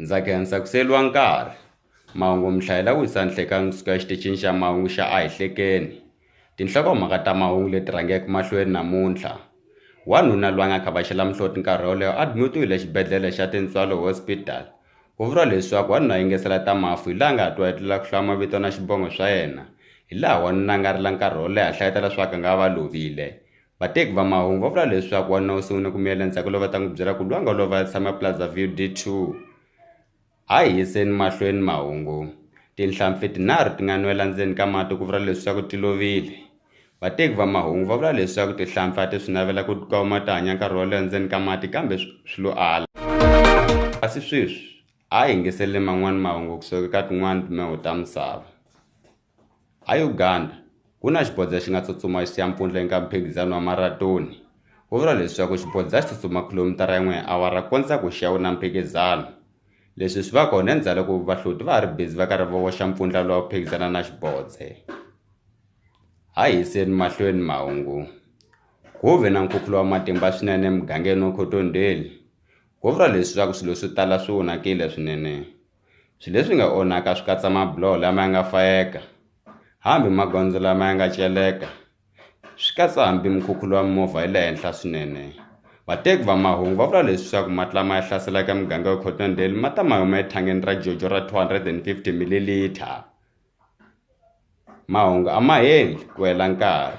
Ndza khensa ku siyeriwa nkarhi mahungu mi hlayela Wisa Nhlekanhi kusuka exitichini xa mahungu xa A hi hlekeni tinhlokomhaka ta mahungu leti rhangeke mahlweni namuntlha wanuna loyi a nga khavhaxela muhloti nkarhi woleyo admutiwile exibedhlele xa Tintswalo Hospital ku vuriwa leswaku wanuna a yingisela ta mafu hi laha nga twa etlela ku hlaya mavito na xivongo swa yena hi laha wanuna a nga rila nkarhi wo leha hlayetela swa ku a nga va lovile Vateki va mahungu va vula leswaku wanuna u sungule ku miyela ndzhaku loko va ta n'wi byela ku lwanga lova a tshama Plaza-View D2. A hi yiseni mahlweni mahungu. Tinhlampfi tinharhu ti nga nwela ndzeni ka mati ku vula leswaku ti lovile. Vateki va mahungu va vula leswaku tihlampfi a ti swi navela ku tikuma ti hanya nkarhi wo leha ndzeni ka mati kambe swi lo ala. Kasi sweswi a hi yingiseleni man'wana mahungu kusuka eka tin'wana timheho ta misava. EUganda, ku na xibodza xi nga tsutsuma xi siya mpfundla eka mphikizano wa maratoni. Ku vuriwa leswaku xibodza xi tsutsuma khilomitara yin'we hi awara ku kondza ku xi ya wina mphikizano. Leswi swi va kona endzhaku loko vahloti va ha ri bizi va karhi va voxa mpfundla lowu phikizana na xibodze. Ha yiseni mahlweni mahungu. Ku ve na nkhukhulo wa matimba swinene emugangeni wa Cottonville. Ku vuriwa leswaku swilo swo tala swi onhakile swinene. Swilo leswi nga onhaka swi katsa mabiloho lama ya nga fayeka hambi magondzo lama ya nga celeka swi katsa hambi mukhukhulo wa mimovha yi le henhla swinene vateki va mahungu va vula leswaku mati lama ya hlaselaka muganga wa Cottondale ma ta ma huma ethangeni ra Jojo ra two hundred and fifty mililiter mahungu a ma heli ku hela nkarhi.